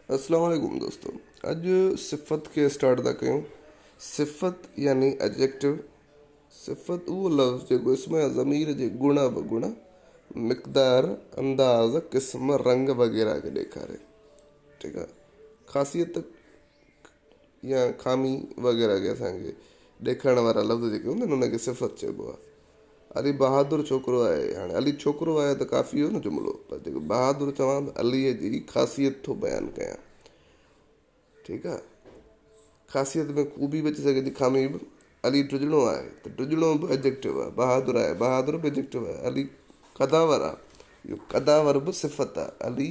السلام عليڪم دوستو اڄ صفت کي اسٽارٽ ٿا ڪيون صفت يعني اجيڪٽو صفت اهو لفظ جيڪو اسم يا ضمير جي گڻ اوگڻ مقدار انداز قسم رنگ وغيره کي ڏيکاري ٺيڪ آهي خاصيت يا خامي وغيره کي اسان کي ڏيکارڻ وارا لفظ جيڪي هوندا آهن انهن کي صفت چئبو آهي. علي بهادر ڇوڪرو آهي، هاڻي علي ڇوڪرو آهي ته ڪافي هيو نه جملو پر جيڪو بهادر چوان ته عليء جي خاصيت ٿو بيان ڪيان ٺيڪ آهي خاصيت ۾ خوبي به اچي سگهي ٿي خامي به علي ڊڄڻو آهي ته ڊڄڻو به ايڊجيڪٽو آهي بهادر آهي بهادر به ايڊجيڪٽو آهي علي قداور آهي اهو قداور به صفت آهي علي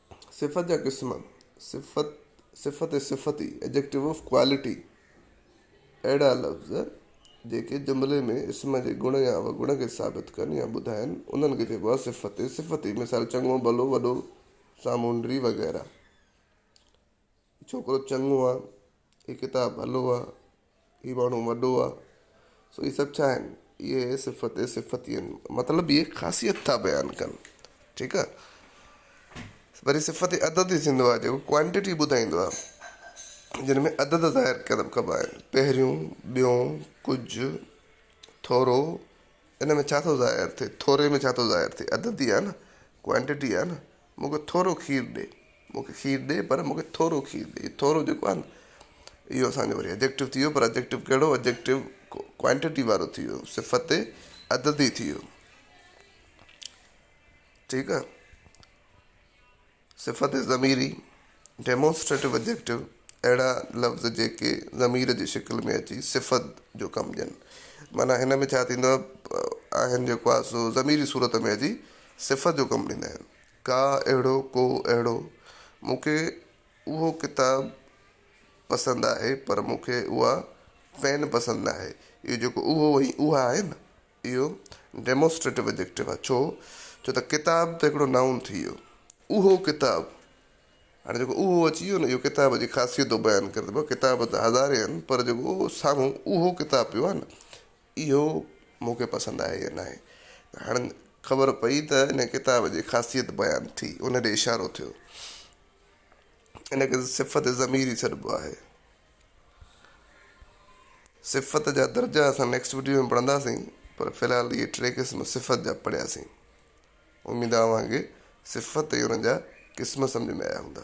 صفت جا قسم، صفت، صفت ۽ صفتي، Adjective of Quality، اهڙا لفظ جيڪي جملي ۾ اسم جي گڻ يا اوگڻ کي ثابت ڪن يا ٻڌائن، انهن کي چئبو آهي صفت ۽ صفتي، مثال، چڱو، ڀلو، وڏو، سامونڊي وغيره. ڇوڪرو چڱو آ، هي ڪتاب ڀلو آ، هي ماڻهو وڏو آ، سو اهي سڀ ڇا آهن؟ اهي صفت صفت ئي آهن. مطلب اهي خاصيت ٿا بيان ڪن. ٺيڪ آ. وري صفت عدد ئي ٿيندو آ جيڪو ڪوانٽيٽي ٻڌائيندو آ. جن ۾ عدد ظاهر ڪبا آهن. پهريون، ٻيون، ڪجهه، ٿورو، ان ۾ ڇا ٿو ظاهر ٿئي؟ ٿوري ۾ ڇا ٿو ظاهر ٿئي؟ عدد ئي آ نه، ڪوانٽيٽي آ نه. مون کي ٿورو کير ڏي. مون کي کير ڏي پر مون کي ٿورو کير ڏي. هي ٿورو جيڪو آهي نه اهو اسان جو وري ايڊجيڪٽو ٿي ويو پر ايڊجيڪٽو ڪهڙو ايڊجيڪٽو ڪوانٽيٽي وارو ٿي ويو صفت عددي ٿي ويو ٺيڪ آهي صفت ضميري Demonstrative Adjective، اهڙا لفظ جيڪي ضمير جي شڪل ۾ اچي صفت جو ڪم ڏين. معنيٰ هن ۾ ڇا ٿيندو آهن جيڪو آهي سو ضمير جي صورت ۾ اچي صفت جو ڪم ڏيندا آهن. ڪا، اهڙو، ڪو، اهڙو. مون کي اهو ڪتاب پسند آهي پر مون کي اها پين پسند ناهي. اهو جيڪو اهو ۽ اها آهي نه اهو Demonstrative Adjective آهي ڇو جو ته ڪتاب ته هڪڙو Noun ٿي ويو اهو ڪتاب هاڻي جيڪو اهو اچي ويو نه اهو ڪتاب جي خاصيت ٿو بيان ڪري ته ڪتاب ته هزارين آهن پر جيڪو اهو سامهون اهو ڪتاب پيو آهي نه اهو مون کي پسند آهي يا ناهي هاڻي خبر پئي ته ان ڪتاب جي خاصيت بيان ٿي ان ڏي اشارو ٿيو ان کي صفت ضميري سڏبو آهي صفت جا درجا اسان نيڪسٽ وڊيو ۾ پڙهنداسين پر في الحال اهي ٽي قسم صفت جا پڙهياسين اميد آ اوهان کي صفت ۽ ان جا قسم سمجهه ۾ آيا هوندا.